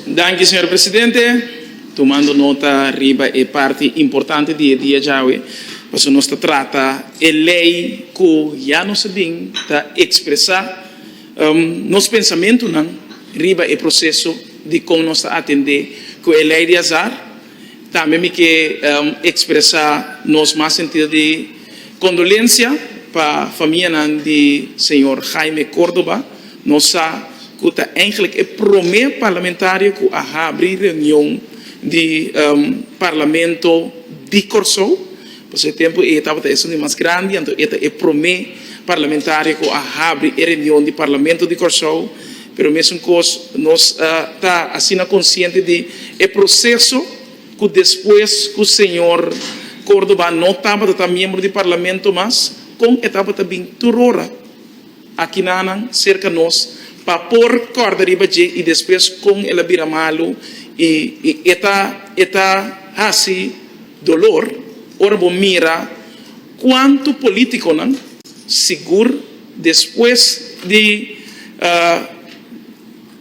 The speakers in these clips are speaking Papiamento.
Danki señor presidente, tumando nota riba e parti importante di e dia djawe, pasobra nos ta trata e ley cu ya nos a bin ta expresa nos pensamentunan riba e proceso di con nos ta atende cu e ley di azar, Tambe mi ke ekspresa nos mas sentido di kondolensia pa famianan di señor Jaime Córdoba. Nos sa ku ta eindelijk e promé parlamentario ku a habri reunion di Parlamento di Kòrsou. Pasobra e tempu ei tabata esun di mas grandi, anto e ta e promé parlamentario ku a habri e reunion di Parlamento di Kòrsou. Pero mesunkoos nos a ta asina konsiente di e proseso ku despues ku señor Córdoba no tabata ta miembro di Parlamento mas, kon e tabata bin tur ora aki nanan serka nos pa por kòrda riba dje i despues kon el a bira malu i e ta e ta hasi dolor ora bo mira kuantu polítikonan. sigur despues di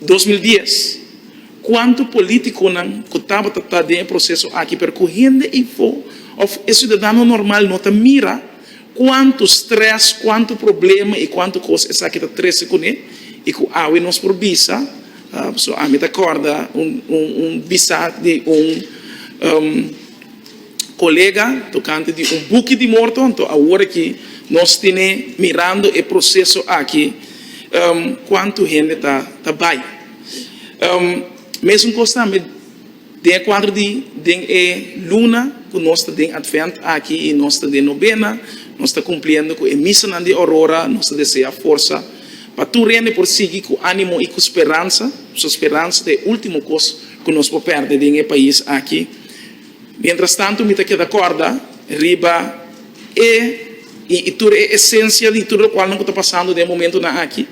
dos mil dies cuanto politiconan cu tabata ta den e proceso aki pero cu hende ifo of e ciudadano normal no ta mira cuanto stress, cuanto problema y cuanto cos esaki ta trece cune y cu awe nos por bisa so ami ta corda un bisa di un. colega tocante di un buki di morto, anto awor aki nos tine mirando e proceso aki cuanto hende ta ta bay. Mesun cos tambe den e cuadro di den e luna cu nos ta den Advent aki y nos ta den Novena, nos ta cumpliendo cu e misanan di Aurora, nos ta desea forsa pa tur hende por sigui cu animo y cu speransa, pasobra speransa ta e ultimo cos cu nos por perde den e pais aki. Mientras tanto mi ta keda corda riba e y y tur e esencia di tur locualnan cu ta pasando den e momentonan aki,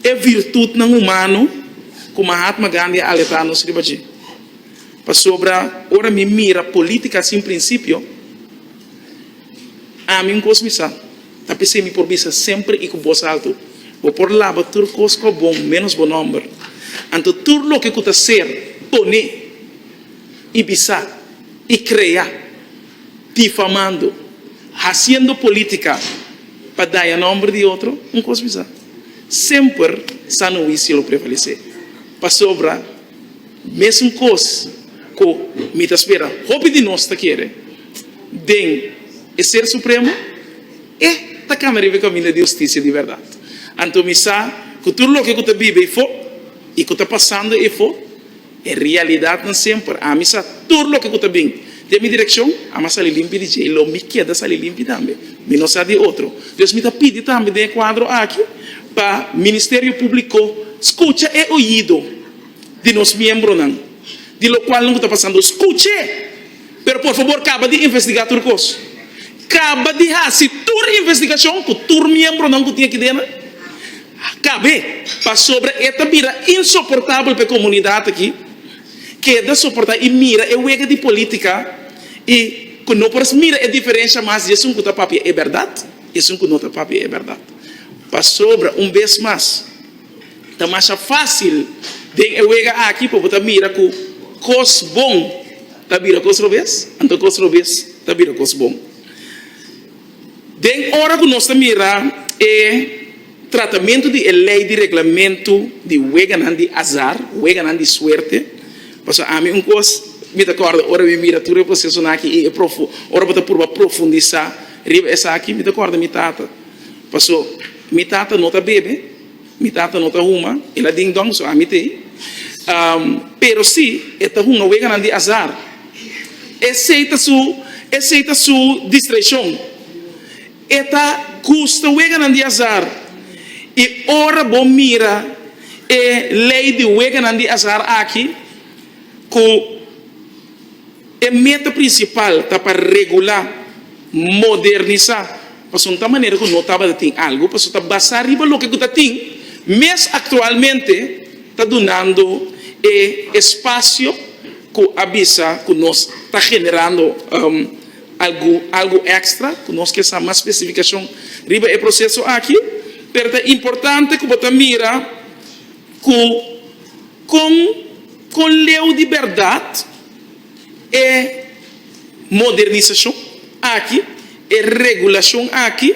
e virtutnan humano cu Mahatma Gandhi a alerta nos riba dje. Pasobra ora mi mira politica sin principio, ami un cos mi sa, ta p'esey mi por bisa semper y cu boz alto, Bo por laba tur cos cu a bon menos bo nomber. Anto tur loke cu ta ser, pone. i bisa i krea difamando, hasiendo politica pa daña nomber di otro, un cos bisa. Semper sano huicio lo prevalece, pasobra mesun cos cu mi ta spera hopi di nos ta kere den e Ser Supremo, e ta cana riba e caminda di husticia di berdad. Anto mi sa cu tur loke cu ta biba ifo i cu ta pasando ifo, E realidat nan semper. Ami sa tur loke ku ta bin den mi direkshon. Ami a sali limpi di dje i lo mi keda sali limpi tambe. Mi no sa di otro. Dios mi ta pidi tambe den e kuadro aki pa Ministerio Públiko skucha e oyido di nos miembronan di lokual nan ku ta pasando. Skuch'é! Pero por fabor caba di investiga tur cos. Caba di haci tur investigacion cu tur miembronan cu tin aki dena. Cabe, pasobra e ta bira insoportabel pa e comunidad aki. Keda soporta y mira e wega di politica y cu no por mira e diferencia mas di esun cu ta papia e berdad y esun cu no ta papia e berdad. Pasobra un bes mas. Ta masha fásil den e wega aki pa bo ta mira ku kos bon ta bira kos robes, anto kos robes ta bira kos bon. Den ora ku nos ta mira e tratamentu di e lei di reglamentu di weganan di azar, weganan di suerte, pasobra ami un kos mi ta kòrda ora mi mira tur e prosesonan aki i e ora bo ta purba profundisá riba esaki, mi ta kòrda mi tata. Paso, mi tata no ta bebe, mi tata no ta huma, el a ding dong, so ami t'e. Pero si e ta hunga weganan di azar, esey ta su, esey ta su distraicion. E ta gusta weganan di azar. I ora bo mira e ley di weganan di azar aki, cu. E meta prinsipal ta pa regulá, modernisá, pasobra ta manera ku no tabata tin algu, pasobra ta basá riba loke ku ta tin mes aktualmente, ta dunando e espasio ku a bisa ku nos ta generando algu èkstra, ku nos ke sa mas spesifikashon riba e proseso aki, pero ta importante ku bo ta mira ku. Kon ku leu di bèrdat e modernisashon aki, e regulashon aki,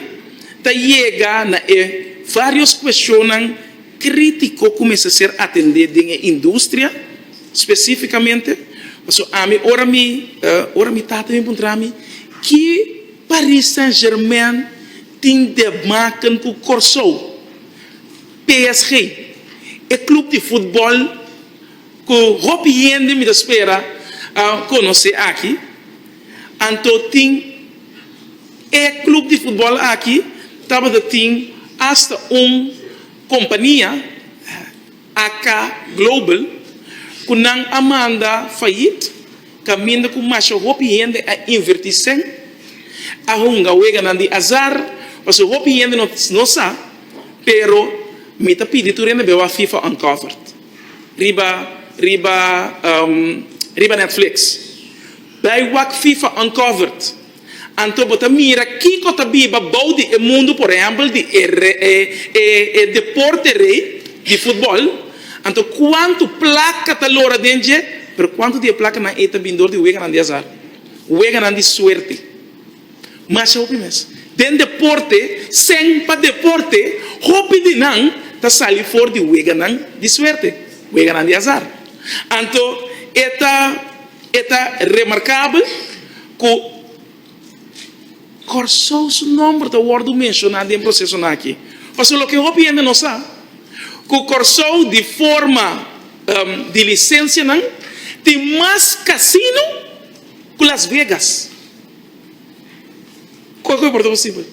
ta yega na e vários kueshonnan krítiko ku mester ser atendé den e industria spesífikamente? Pasobra ami ora mi ora mi tata mi puntra mi ki Paris Saint-Germain tin debmaken ku Kòrsou? PSG, e club di futbol cu hopi hende mi ta spera a conoce aki, anto tin e club di futbol aki tabata tin hasta un compania, AK Global, cu nan a manda fayit. Caminda cu masha hopi hende a inverti sen a hunga weganan di azar, pasobra hopi hende no no sa, pero mi ta pidi tur hende bewa Fifa Uncovered riba riba riba Netflix. Bai wak Fifa Uncovered. Anto bo ta mira kiko ta biba bou di e mundu por ehempel di e deporte rey di futbol anto kuantu plaka ta lora den dje pero kuantu di e plakanan ey ta bin dor di weganan di azar weganan di suerte masha hopi mes den deporte sèn pa deporte hopi di nan ta sali for di weganan di suerte weganan di azar anto e ta e ta remarkabel. Ku Kòrsou su nòmber ta wòrdu menshoná den prosesonan akí. Pasobra loke hopi hende no sa, ku Kòrsou di forma di lisensianan tin mas kasino ku Las Vegas. Kon ku e por ta posibel?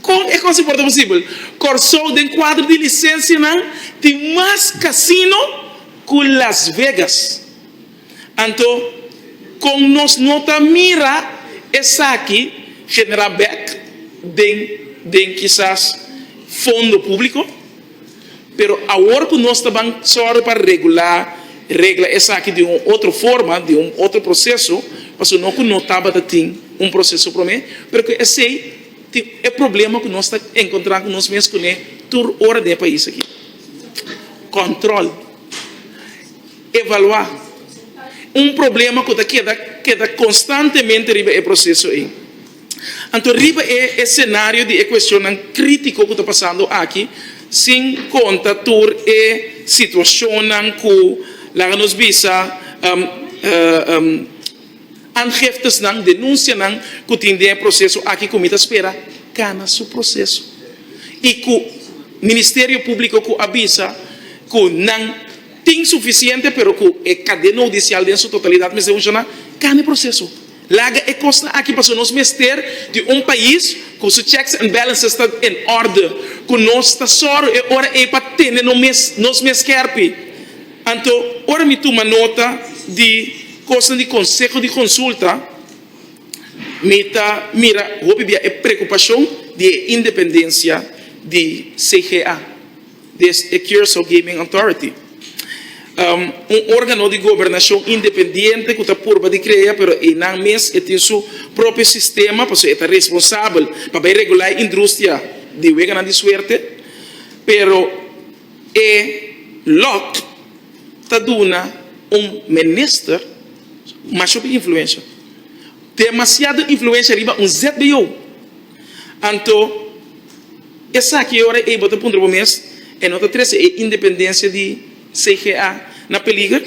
Kon e kos a por ta posibel? Kòrsou den kuadro di lisensianan tin mas kasino ku Las Vegas. Anto, kon nos no ta mira esaki genera bek den den kisas fondo público? Pero awor cu nos ta ban sòru pa regulá, regla esaki di un otro forma, di un otro proceso, pasobra no cu no tabata tin un proceso promé, pero cu esei tin e problema cu nos ta encontra cu nos mes cun'e tur ora den e pais aki, control. Evaluá. Un problema ku ta keda keda konstantemente riba e proseso ei. Anto riba e esenario di e kueshonnan krítiko ku ta pasando aki, sin konta tur e situashonnan ku, laga nos bisa, anheftesnan, denunsianan, ku tin den e proseso aki ku mi ta spera kana su proseso i ku Ministerio Públiko ku a bisa ku nan. Tin sufisiente pero cu e cadena hudicial den su totalidad mester funciona, cana e proceso. Laga e cosnan aki pasobra nos mester di un pais cu su checks and balances ta en orde, cu nos ta sor e ora ey pa tene no mes nos mes kerpi. Anto ora mi tuma nota di cosnan di Conseho di Consulta mi ta mira hopi bia e preocupacion di e independencia di CGA. des e Curaçao Gaming Authority, un organo di gobernashon independiente ku ta purba di krea pero einan mes e tin su propio sistema pasobra e ta responsabel pa bai regulá e indrustia di weganan di suerte pero e lòt ta duna un minister masho ku influensha demasiado influensha riba un zbo. Anto, esaki e ora ei bo ta puntra bo mes, E no ta trese e independensia di CGA na peliger?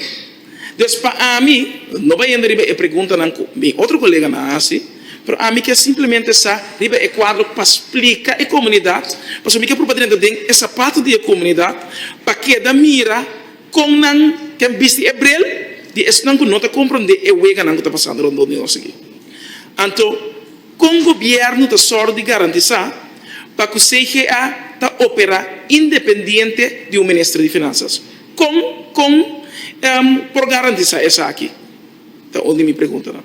Des pa ami no bay hende riba e preguntanan cu mi otro coleganan a haci, pero ami kier simplemente sa riba e cuadro pa splica e comunidad, pasobra mi kier proba drenta den e sapato di e comunidad pa keda mira con nan ta bisti e bril di esnan cu no ta compronde e weganan cu ta pasando rondon di nos aki. Anto. Kon gobièrnu ta sòru di garantisá pa ku CGA ta operá independiente di un minister di Finansas? Kon kon por garantisá esaki? ta un di mi preguntanan.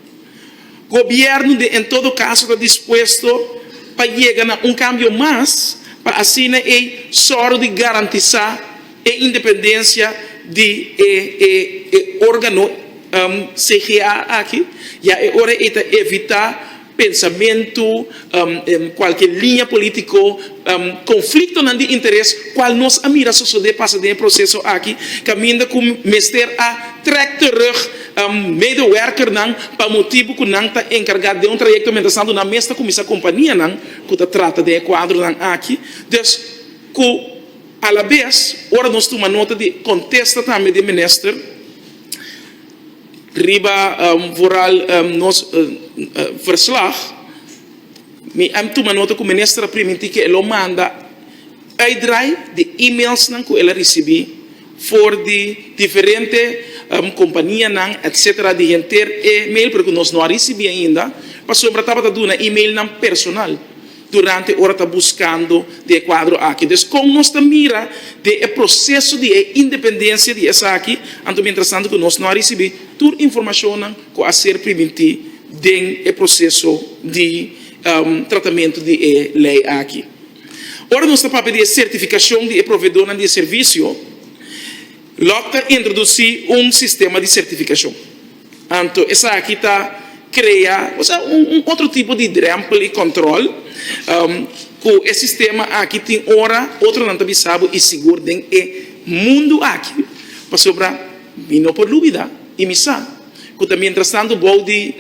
Gobièrnu den en todo kaso ta dispuesto pa yega na un kambio mas pa asina ei sòru di garantisá E independencia di e e organo CGA aki ya e ora ey ta evita pensamentu, cualkier liña politico, conflictonan di interes cual nos a mira sosode pasa den e proceso aki, caminda cu mester a trek terug medewerkernan pa motibu cu nan ta encarga den un trayecto mientras tanto nan mes ta cuminsa companianan cu ta trata den e cuadronan aki, dus cu. Alabes, ora nos tuma nota di e kontesta tambe di e minister riba vooral nos verslag, mi a tuma nota ku minister a primintí ku e lo manda uitdraai di e-mailsnan ku el a risibí for di diferente kompanianan etsetera di henter e mail, pero ku nos no a risibí ainda, pasobra tabata duna e-mailnan personal. Durante ora ta buskando di e kuadro aki. Dus kon nos ta mira den e proseso di e independensia di esaki, anto mientras tanto ku nos no a risibí tur informashonnan ku a ser primintí den e proseso di tratamentu di e lei aki. Ora nos ta papia di e sertifikashon di e proveedornan di e servisio, Luck ta introdusí un sistema di sertifikashon. Anto esaki ta krea osea un otro tipo di drempel y control cu e sistema aki tin ora otronan ta bisa bo y sigur den e mundo aki pasobra mi no por lubida y mi sa cu ta mientras tanto bou di.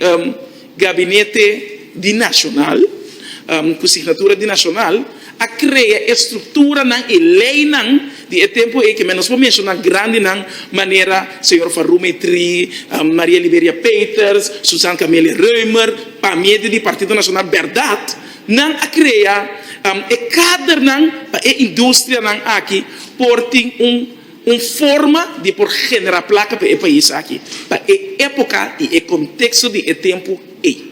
Gabinete di Nacional, ku signatura di Nacional, a krea e strukturanan, e leinan di e tempu ei, ke men nos por menshoná grandinan manera señor Van Rume Tri, Maria Liberia Peeters, Susan Camelia Reumer, pa medio di Partido Nacional Bèrdat, nan a krea e kadernan pa e industrianan aki por tin un. Un forma di por genera placa pa e pais aki pa e epoca y e contexto di e tempo ey.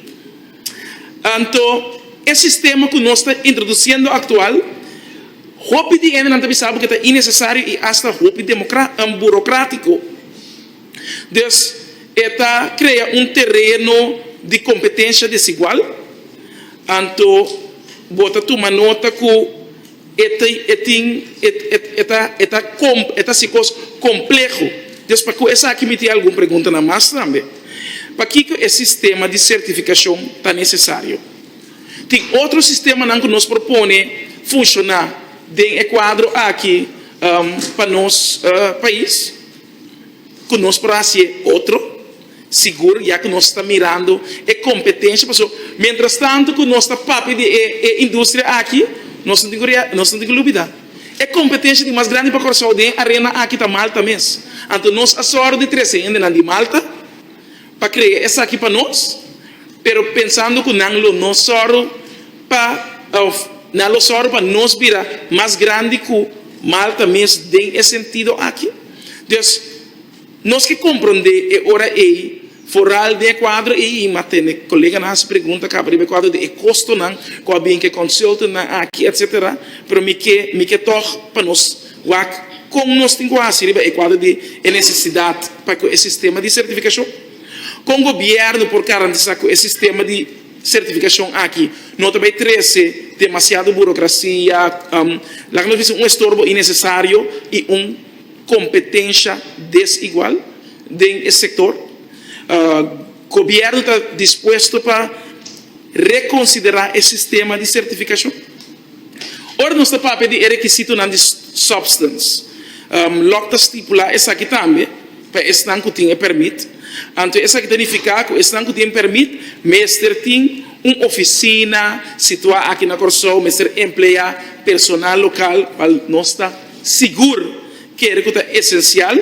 Anto e sistema cu nos ta introduciendo actual, hopi di hendenan ta bisa bo cu ta innecesario y hasta hopi burocratico, dus e ta crea un tereno di competencia desigual, anto bo ta tuma nota cu. E ta hasi kos kompleho. Dios, pa ku esaki miti algun preguntanan mas tambe. Pakiko e sistema di sertifikashon ta nesesario? Tin otro sistemanan ku nos por pone funshoná den e kuadro aki pa nos pais? ku nos por hasi e otro sigur, ya ku nos ta mirando e kompetensha. Pasobra miéntras tantu ku nos ta papia di e industria aki, nos no tin ku lubidá e kompetensha di mas grandi pa Kòrsou den e arena aki ta Malta mes. Anto nos a sòru di trese hendenan di Malta. Pa crea esaki pa nos, pero pensando cu nan lo no sòru pa, of nan lo sòru pa nos bira mas grandi cu Malta mes den e sentido aki. Dus nos ke comprende e ora ey foral den e cuadro ey ma tene coleganan haci pregunta caba riba e cuadro den e costonan cu a bien cu e consultantnan aki etc. Pero mi ke mi ke tog pa nos. Wak kon nos tin ku hasi riba e kuadro di e nesesidat pa ku e sistema di sertifikashon? Kon gobièrnu por garantisá ku e sistema di sertifikashon aki no ta bai trese demasiado burokrasia, laga nos bisa un estorbo inesesario i un kompetensha desigual den e sektor? Gobièrnu ta dispuesto pa rekonsiderá e sistema di sertifikashon? Ora nos ta papia di e rekisitonan di substance, lòk ta stipulá esaki tambe pa esnan ku tin e pèrmit. Anto esaki ta nifiká ku esnan ku tin pèrmit mester tin un ofisina situá aki na Kòrsou, mester empleá personal lokal, bal nos ta sigur kere ku ta esensial,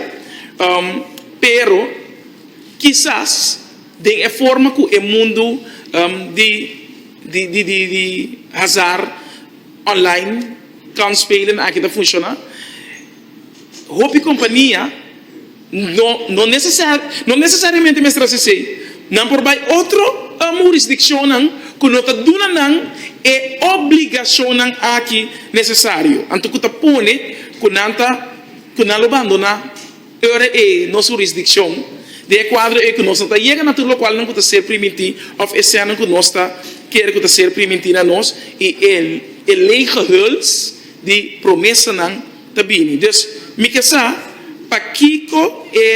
pero kisas. Den e forma ku e mundu di di hazar onlain, kansspelen, aki ta funshoná, hopi kompania no no nesesariamente mester hasi esei. Nan por bai otro hurisdikshonnan ku no ta duna nan e obligashonnan aki nesesario, anto ku ta pone ku nan ta ku nan lo bandoná. Ora e nos hurisdikshon den e kuadro ei ku nos no ta yega na tur lokualnan ku ta ser primintí òf esènan ku nos ta kere ku ta ser primintí na nos i e e leege huls di promesanan ta bini. Dus mi ke sa pakiko e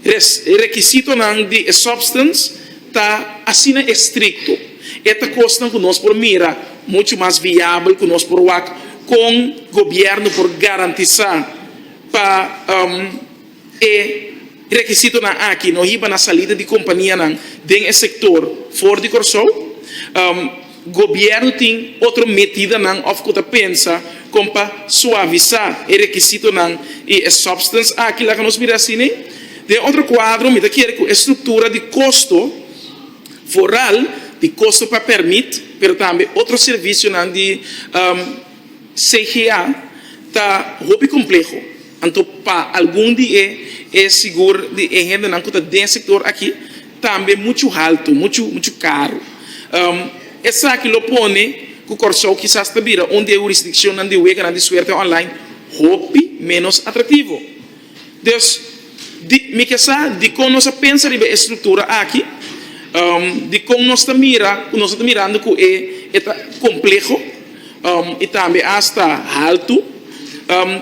res e rekisitonan di e sòbstens ta asina estrikto. E ta kosnan ku nos por mira muchu mas viabel ku nos por wak kon gobièrnu por garantisá. Pa e rekisitonan aki no hiba na salida di kompanianan den e sektor for di Kòrsou. Gobièrnu tin otro medidanan òf ku ta pensa kon pa suavisá e rekisitonan i e substance aki laga nos mira así nei. Den otro kuadro mi ta kere ku e struktura di kosto foral, di kosto pa pèrmit, pero tambe otro servisionan di. CGA ta hopi kompleho, anto pa algun di e e sigur di e hendenan ku ta den sektor aki tambe muchu haltu, muchu muchu karu. Esaki lo pone ku Kòrsou kisas ta bira un di e hurisdikshonnan di weganan di suerte online hopi ménos atrativo. Dus, di, mi ke sa dikon nos a pensa riba e struktura aki, dikon nos ta mira, ku nos no ta mirando ku e e ta kompleho i tambe asta haltu.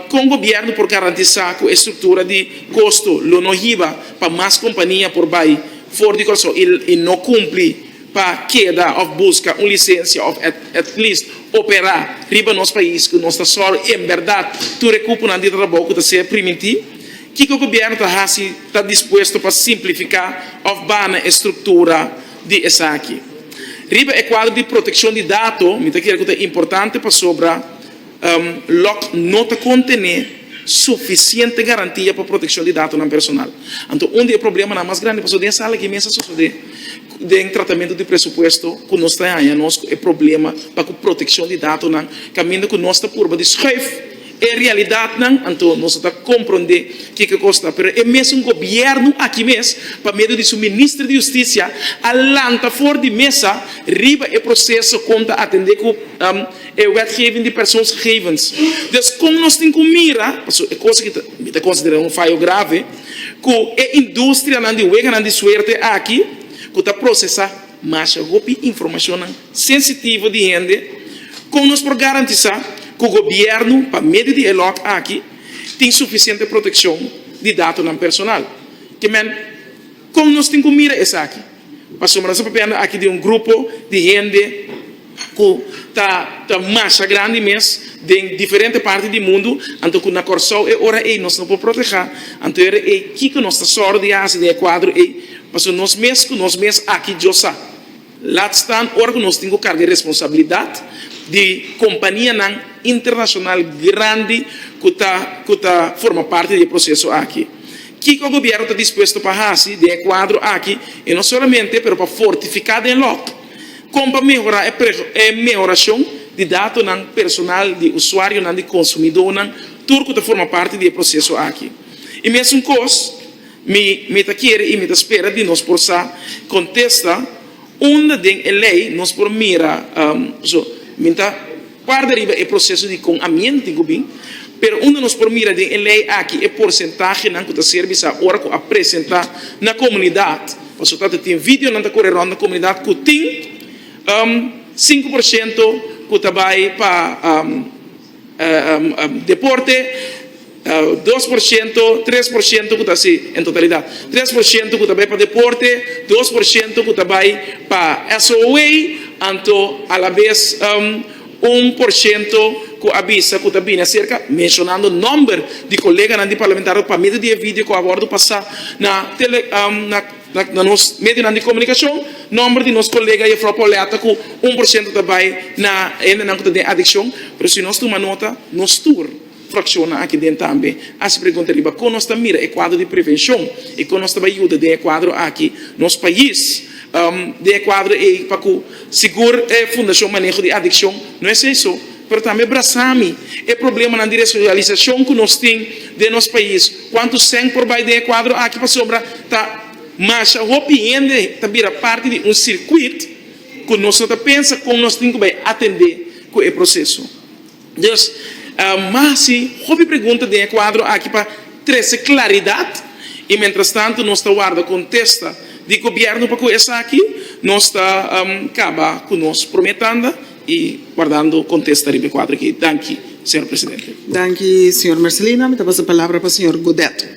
Kon gobièrnu por garantisá ku e struktura di kosto lo no hiba pa mas kompania por bai for di Kòrsou i no kumpli? pa keda of buska un lisensia of at least opera riba nos pais cu nos ta sor en berdad tur e cuponan di trabou cu ta ser priminti? Kico gobierno ta haci ta dispuesto pa simplifica of bana e structura di esaki? Riba e cuadro di proteccion di dato mi ta kere cu ta importante pasobra Lock no ta contené suficiente garantia pa proteccion di datonan personal. Anto un di e problemanan mas grandi pasobra den sala aki mester a sosode den tratamento di presupuesto cu nos ta haya nos cu e problema pa cu proteccion di datonan caminda cu nos ta purba di schuif e realidadnan anto nos no ta compronde kico cos ta pero e mesun gobierno aki mes pa medio di su Minister di Justicia a lanta for di mesa riba e proceso con ta atende cu E wetgeving di persoonsgegevens. Dus kon nos tin ku mira, pasobra e kos aki mi ta konsiderá un fayo grave, ku e industrianan di weganan di suerte aki ku ta prosesá masha hopi informashonnan sensitivo di hende, kon nos por garantisá ku gobièrnu pa medio di e lòt aki tin sufisiente protekshon di datonan personal? Ke men, kon nos tin ku mira esaki? Pasobra nos a papiando aki di un grupo di hende ku ta ta masha grandi mes den diferente parti di mundu, anto ku na Kòrsou e ora ei nos no por protehá, anto era ei kiko nos ta sòru di hasi den e kuadro ei? Pasobra nos mes ku nos mes aki Dios a lat stan ora ku nos tin ku karga e responsabilidat di kompanianan internashonal grandi ku ta ku ta forma parti di e proseso aki. Kiko Gobierno ta dispuesto pa haci den e cuadro aki y no solamente pero pa fortifica den log con pa mehora e mehoracion di datonan personal di usuarionan di consumidonan tur cu ta forma parti di e proceso aki. Y mesuncos mi mi ta kere y mi ta spera di nos por sa contesta unda den e ley nos por mira, so mi ta. Parti riba e proseso di kon a mienti ku bin, pero unda nos por mira den e lei aki e porsentahenan ku ta ser bisa ora ku a presentá na komunidat, pasobra tabata tin videonan ta kore rònt na komunidat ku tin sinku por shento ku ta bai pa deporte, Dos por shento, tres por shento ku ta si en totalidat. Tres por shento ku ta bai pa deporte, dos por shento ku ta bai pa SOE, anto alabes un por shento ku a bisa ku ta bini aserka, menshonando nòmber di koleganan di parlamentario pa medio di e video ku a wòrdu pasá na tele na nos medionan di komunikashon, nòmber di nos kolega Jefrou Pauletta ku un por shento ta bai na hendenan ku ta den adikshon, pero si nos tuma nota nos tur. Fraccionnan aki den tambe haci pregunta riba con nos ta mira e cuadro di prevencion y con nos ta bay yuda den e cuadro aki nos pais den e cuadro ey pa cu sigur e Fundacion Maneho di Adiccion no es ey so pero tambe brasa mi e problemanan di resocialisacion cu nos tin den nos pais cuantu cent por bay den e cuadro aki pasobra ta masha hopi hende ta bira parti di un circuit cu nos no ta pensa con nos tin cu bay atende cu e proceso. Dus, mahasi hopi pregunta den e kuadro aki pa trese klaridat i mentrastantu nos ta warda kontesta di gobièrnu pa ku esaki nos ta kaba ku nos promé tanda i wardando kontesta riba e kuadro aki. Danki, señor presidente. Danki, señor Marcelino. Mi ta pasa palabra pa señor Godet.